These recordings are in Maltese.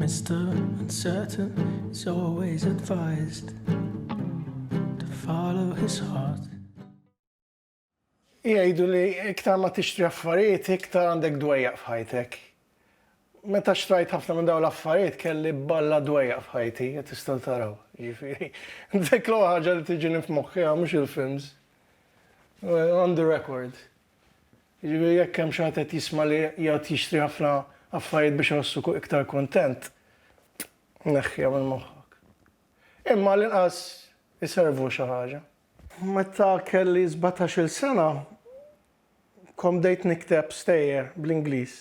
Mr. Uncertain is always advised to follow his heart. Jgħidu li iktar ma tixtri affarijiet, iktar għandek dwejjaq f'ħajtek. Meta xtrajt ħafna minn dawn l-affarijiet kelli balla dwejjaq f'ħajti, qed tistgħu taraw. Ġifieri, dik l ħaġa li tiġini f'moħħi mhux il-films. On the record. Jiġifieri jekk hemm xi ħadd qed jisma' li jgħad jixtri ħafna affarijiet biex iħossu iktar kuntent, neħħiha minn moħħok. Imma għall-inqas iservu xi ħaġa. Meta kelli sbatax-il sena, kont bdejt nikteb stejjer bl-Ingliż,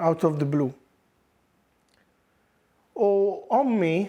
out of the blue. U ommi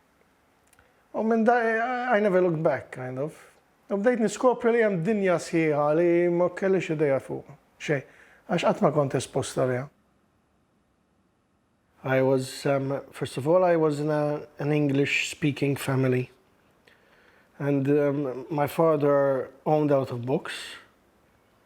U minn da, I never looked back, kind of. U bdejt niskopri li hemm dinja sħiħa li ma kellix idea fuqha xejn, għax qatt ma kont espost għaliha. I was, um, first of all, I was in a, an English speaking family. And um, my father owned out of books.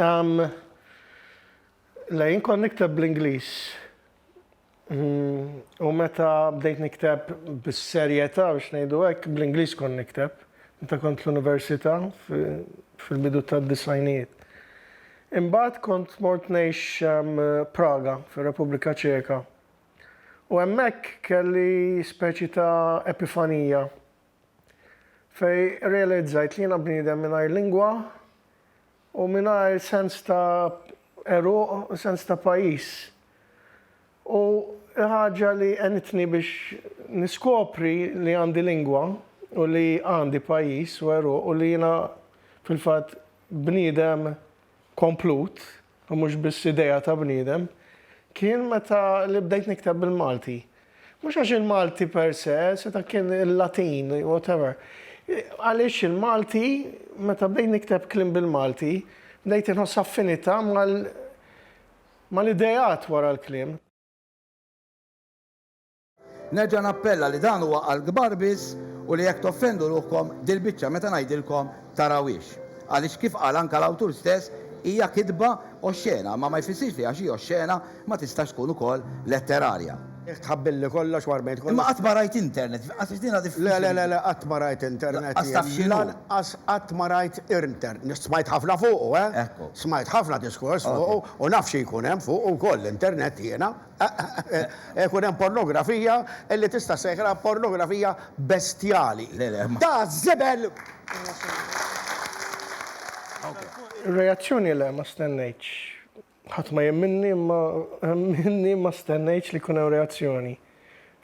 Umm. Le, jien kont nikteb bl-Ingliż. Umm. U meta bdejt nikteb bis-serjetà biex ngħidu hekk, bl-Ingliż kont nikteb. Meta kont l-università fil-bidu tad-disgħinijiet. Imbagħad kont mort ngħix Praga, fir-Repubblika Ċeka. U hemmhekk kelli speċi ta' epifanija. fejn rrealizzajt li jiena bniedem mingħajr lingwa u mingħajr sens ta' għeruq u sens ta' pajjiż. U l-ħaġa li għenitni biex niskopri li għandi lingwa u li għandi pajjiż u għeruq u li jiena fil-fatt bniedem komplut, u mhux biss idea ta' bniedem, kien meta li bdejt nikteb bil-Malti. Mhux għax il-Malti per se, seta' kien il-Latin, whatever. Għaliex il-Malti, meta bdejt nikteb kliem bil-Malti, bdejt inħoss affinità mal-ideat wara l-kliem. Nerġa' nappella li dan huwa għal kbar biss u li jekk toffendu ruħkom dil-biċċa meta ngħidilkom tarawhiex. Għaliex kif qal anke l-awtur stess hija kitba oxxena imma ma jfissirx li għax hi oxxena ma tistax tkun ukoll letterarja. Jekk tħabbilli kollox war bejn. Imma qatt ma rajt internet, qatt għax din diffiċli. Le, le, le, qatt ma rajt internet. Lanqas taf x'inhu. Lanqas qatt ma rajt irnter. Smajt ħafna fuqu, eh. Ekku. Smajt ħafna diskors fuqu u naf xi jkun hemm fuqu wkoll l-internet jiena. Ikun hemm pornografija li tista' ssejħilha pornografija bestjali. Ta' żibel! Reazzjoni le, ma stennejtx. Ħadd ma jemminni imma minni ma stennejtx li jkun hemm reazzjoni.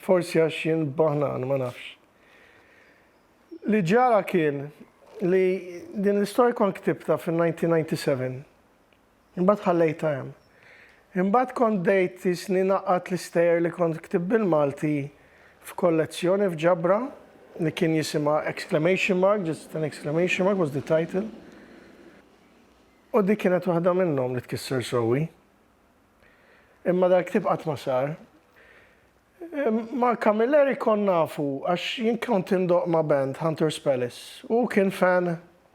Forsi għax jien baħnan, ma nafx. Li ġara kien li din l-istorja kont ktibtha fin-1997. Imbagħad ħallejtha hemm. Imbagħad kont bdejt isni ngħaqqad l-istejjer li kont ktibt bil-Malti f'kollezzjoni f'ġabra li kien jisimha exclamation mark, just an exclamation mark was the title. U dik kienet waħda minnhom li tkisser sewwi. Imma dal-ktieb qatt ma sar. Ma' Camilleri kont nafu għax jien kont indoqq ma' band, Hunter's Palace, u hu kien fan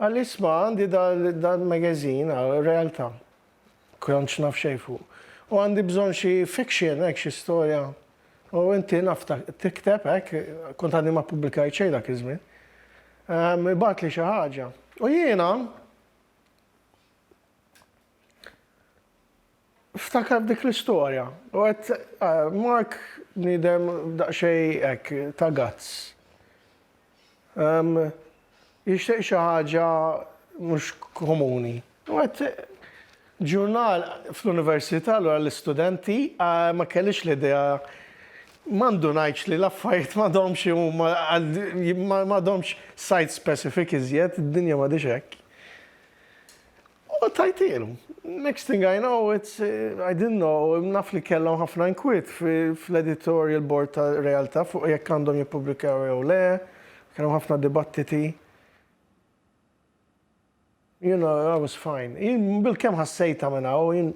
Qal isma' għandi dal-magazine, għal realtà. Kontx naf xejn fuq. U għandi bżonn xi fiction, hekk xi storja. U inti naf tikteb hekk, kont għadni ma ppubblikajt xejn dak iż-żmien. Ehm, ibgħatli xi ħaġa. U jiena Ftakar f'dik l-istorja. U għedt, Mark bniedem daqsxejn hekk ta' guts. Jixtieq xi ħaġa mhux komuni. U għedt, Ġurnal fl-università, allura l-istudenti, ma kellix l-idea, ma ndunajtx li l-affarijiet m'għadhomx huma, m'għadhomx site-specific iżjed, id-dinja m'għadhiex hekk. U għattajtilu. Next thing I know, it's, I didn't know, naf li kellhom ħafna inkwiet fl-editorial board ta' Realtà fuq jekk għandhom jippubblikaw jew le, kien hemm ħafna dibattiti. You know, I was fine. Jien bilkemm ħassejtha minn hawn, jien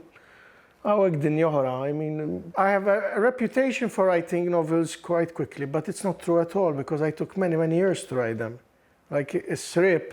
hawnhekk dinja oħra, I mean, I have a reputation for writing novels quite quickly, but it's not true at all because I took many, many years to write them. Like is-Sriep,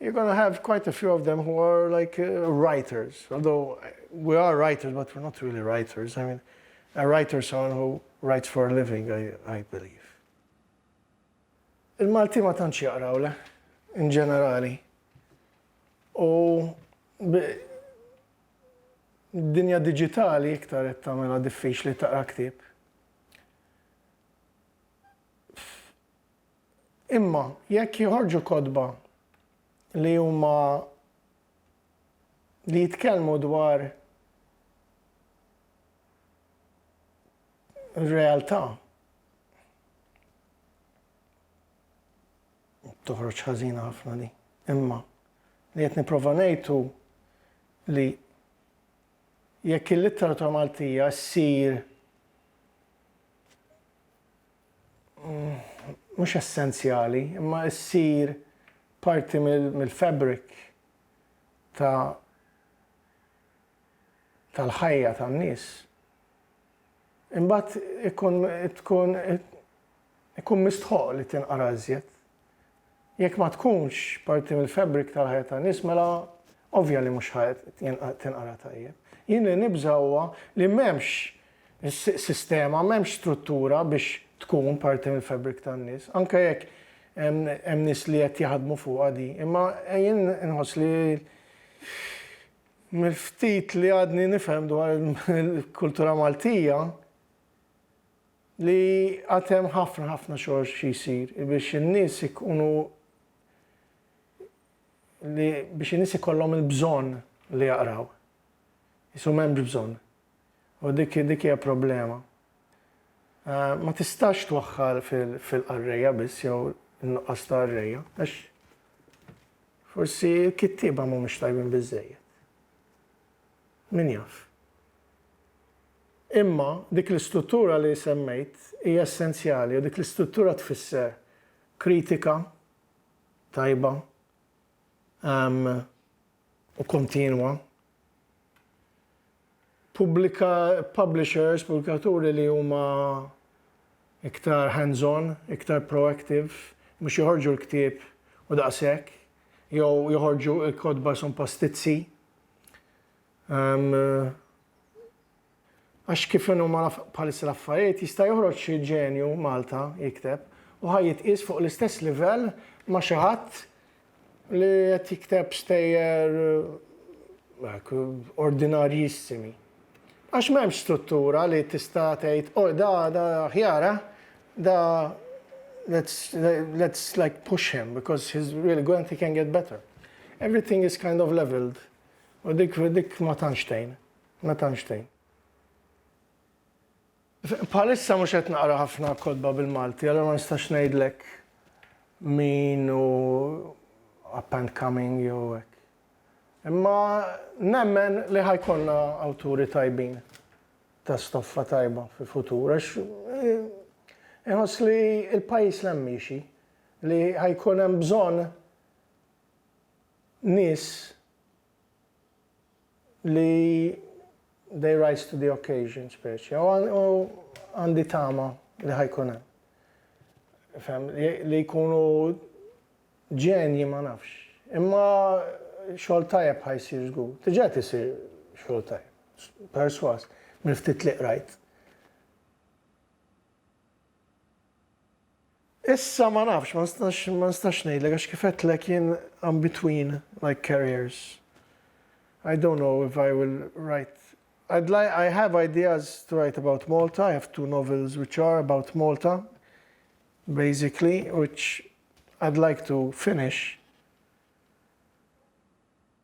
You're gonna have quite a few of them who are like uh, writers, although uh, we are writers, but we're not really writers. I mean, a writer is someone who writes for a living, I, I believe. Il-Malti ma tantx jaqraw le, in ġenerali. U dinja digitali iktar qed tagħmilha diffiċli taqra ktieb. Imma jekk joħorġu kotba li huma li jitkellmu dwar realtà toħroġ ħażina ħafna li. Imma li qed nipprova ngħidu li jekk il-litteratura Maltija ssir mhux essenzjali, imma ssir parti mill-fabric ta' tal-ħajja tan-nies, imbagħad ikun ikun ikun mistħoqq li tinqara iżjed. Jekk ma tkunx parti mill-fabric tal-ħajja tan-nies mela ovvja li mhux ħa tinqara tajjeb. Jien li nibża' huwa li m'hemmx sistema, m'hemmx struttura biex tkun parti mill-fabric tan-nies. Anke jekk hemm nies li qed jaħdmu fuqha di. Imma jien inħoss li mill-ftit li għadni nifhem dwar il-kultura Maltija, li għad hemm ħafna ħafna xogħol xi jsir biex in-nies ikunu li biex in-nies ikollhom il-bżonn li jaqraw. Isu m'hemmx bżonn. U dik dik hija problema. Eh, ma tistax twaħħal fil-qarrejja biss jew in-nuqqas ta' qarrejja, għax forsi l-kittieba mhumiex tajbin biżejjed. Min jaf. Imma dik l-istruttura li semmejt hija essenzjali u dik l-istruttura tfisser kritika tajba u kontinwa, publishers, pubblikaturi li huma iktar hands on, iktar proactive, mhux joħorġu l-ktieb u daqshekk, jew joħorġu l-kotba sompa stizzi. Għax kif inhuma bħalissa l-affarijiet jista' joħroġ xi ġenju Malta jikteb u ħa jitqies fuq l-istess livell ma' xi ħadd li qed jikteb stejjer ordinarjissimi. Għax m'hemmx struttura li tista' tgħid, oh da da aħjar eh, da let's let's like push him because he's really good and he can get better. Everything is kind of levelled u dik dik ma tantx tgħin, ma tantx tgħin. Bħalissa mhux qed naqra ħafna kotba bil-Malti, allura ma nistax ngħidlek min hu up and coming jew hekk. Imma nemmen li ħa jkollna awturi tajbin ta' stoffa tajba fil-futur għax inħoss li l-pajjiż 'l hemm miexi, li ħa jkun hemm bżonn nies li they rise to the occasion speċi. U għandi tama li ħajkun hemm. Fem, li jkunu ġenji ma nafx. Imma xogħol tajjeb ħajsir żgur. Tiġa tisir xogħol tajjeb. Perswas, mill-ftit li qrajt. Issa ma nafx, ma nistax ma nistax ngħidlek għax kif għedtlek jien I'm between like carriers. I don't know if I will write I'd like I have ideas to write about Malta, I have two novels which are about Malta basically which I'd like to finish.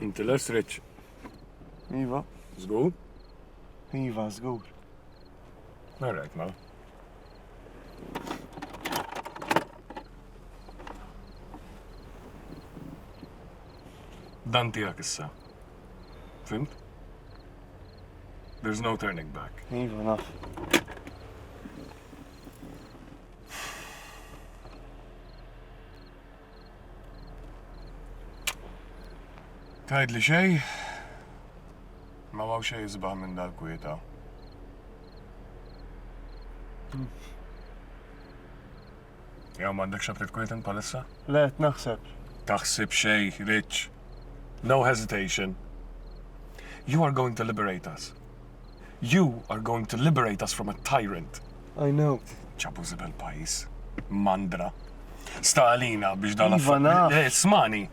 Inti les Rich? Iva. Zgur? Iva, zgur. All right, ma. Dan tijak issa. Fimt? There's no turning back. Iva, naf. Tajd li xej, ma maw xej jizbaħ minn dal-kwieta. Hmm. Jew m'għandekx xogħol trid kwieten bħalissa? Le, qed naħseb. Taħsib xejn, Rich. No hesitation. You are going to liberate us. You are going to liberate us from a tyrant. I know. Ġabu żibel pajjiż. Mandra. Sta għalina biex dan Iva, naf. Eh, Smani.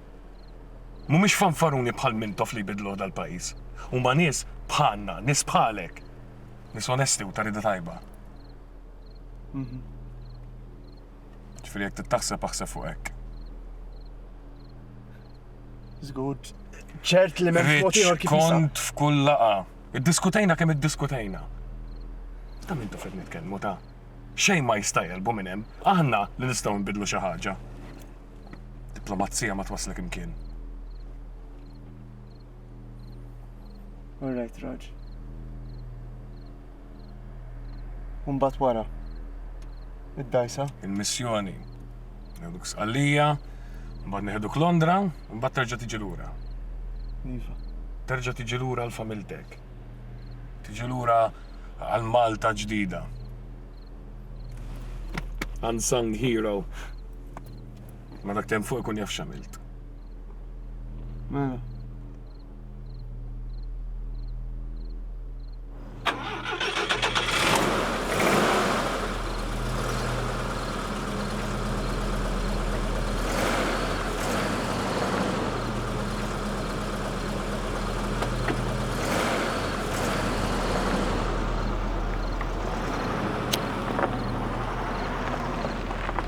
Mhumiex fanfaruni bħal mintof li jbidlu dal-pajjiż. Huma nies bħalna, nies bħalek. Nies onesti u tarida tajba. Ġifieri jekk tittaħseb aħseb fuq hekk. Żgur, ċert li m'hemm mod ieħor kif kont f'kull laqa. Iddiskutejna kemm iddiskutejna. Ta' min tufet nitkellmu ta' xejn ma jista' jelbu minn hemm. Aħna li nistgħu nbidlu xi ħaġa. Diplomazija ma twasslek imkien. All right, Raj. Umbat wara. Id-dajsa. Il-missjoni. Neħduk sqallija, mbagħad neħduk Londra, mbagħad terġa' tiġi lura. Iva. Terġa' tiġi lura għal familtek. Tiġi lura għal Malta ġdida. Unsung hero. Ma dak tem fuq ikun jaf xamilt. Mela.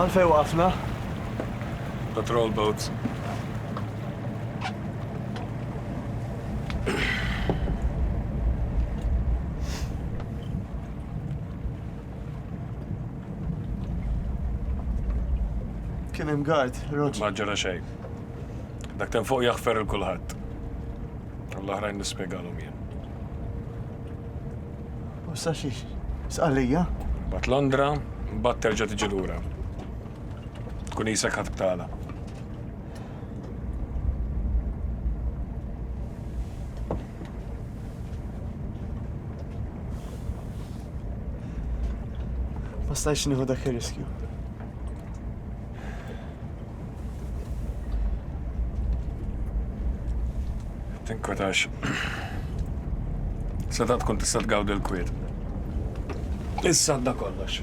Għalfej waqafna? Patrol boats. Kien hemm guard, Roger. Ma ġara xejn. Dak ten fuq jaħfer il-kulħadd. L-oħrajn nispjegalhom jien. U sa xiex? Sqalija? Bat Londra, bat terġa' tiġi lura. Tkun isek ħadd tala. Ma stajx nieħu dak ir-riskju. Tinkwetax. Seta tkun tista' tgawdi l-kwiet. Issa da kollox.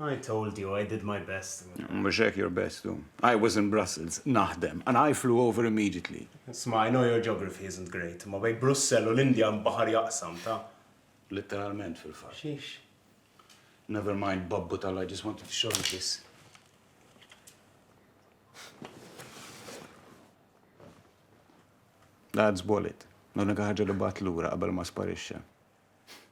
I told you, I did my best. Mhux hekk your best hu. I was in Brussels, naħdem, and I flew over immediately. Isma', I know your geography isn't great, imma bejn Brussell u l-Indja hemm baħar jaqsam, ta'. Litteralment fil-fatt. Xiex? Never mind, babbu tal I just wanted to show you this. Dad's wallet. L-unika ħaġa li bat lura qabel ma sparixxa.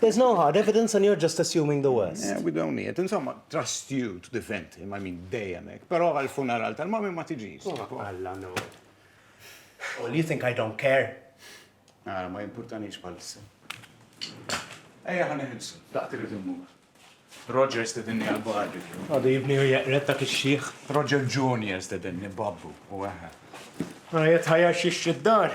There's no hard evidence and you're just assuming the worst. We don't need, insomma, trust you to defend him, I mean, dejjem hekk. Però għall-funeral tal-mommy ma tiġix. Alla no. Well, you think I don't care? Ara, ma jimpurtanix bħalissa. Ejja ħan iħilsu, daqt irid immur. Roger stedinni għal-bar. Għadu jibni u jaqret dak ix-xieħ. Roger Junior stedinni babbu u għaha. Għajet ħajja xiex id-dar.